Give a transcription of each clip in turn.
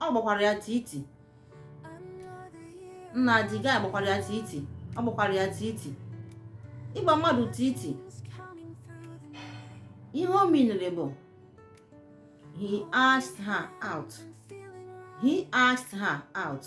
ọ gbakwara ya titi nna the guy gbakwara ya titi ọ gbakwara ya titi ịgba mmadụ titi ihe o minere bụ he asked her out he asked her out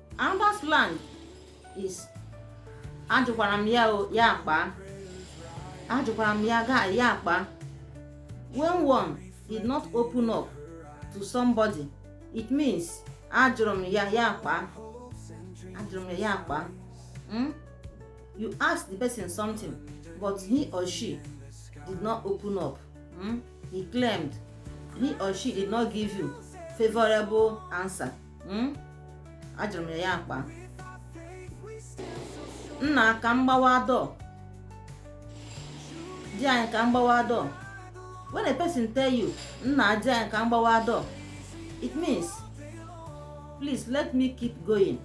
Another slang is ajụkwara m ya ya akpa ajụkwara m ya ga ya akpa when one did not open up to somebody it means ajụrụ m ya ya akpa ajụrụ m ya ya akpa hmm? you ask the person something but he or she did not open up hmm? he claimed he or she did not give you favorable answer hmm? ajụrụ m ya ya akpa nna ka m gbawa door di anyị ka m gbawa door when a person tell you nna di anyị ka m gbawa door it means please let me keep going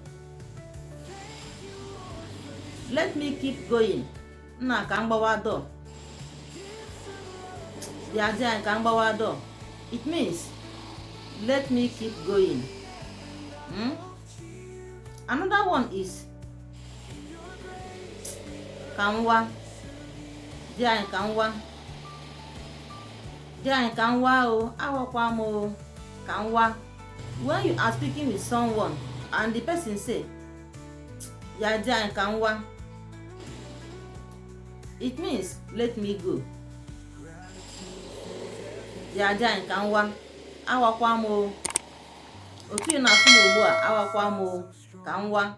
let me keep going nna ka m gbawa door ya di anyị ka m gbawa door it means let me keep going hmm? another one is ka m waa di anyị ka m waa di anyị ka m waa o awakwa m o ka m waa when you are speaking with someone and the person say ya di anyị ka m waa it means let me go ya di anyị ka m waa awakwa m o otu ị na-ahụ m ugbu a awakwa m o ka m waa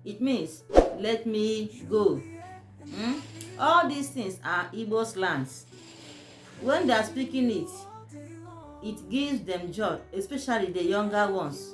it means let me go hmm? all these things are Igbo slangs when they are speaking it it gives them joy especially the younger ones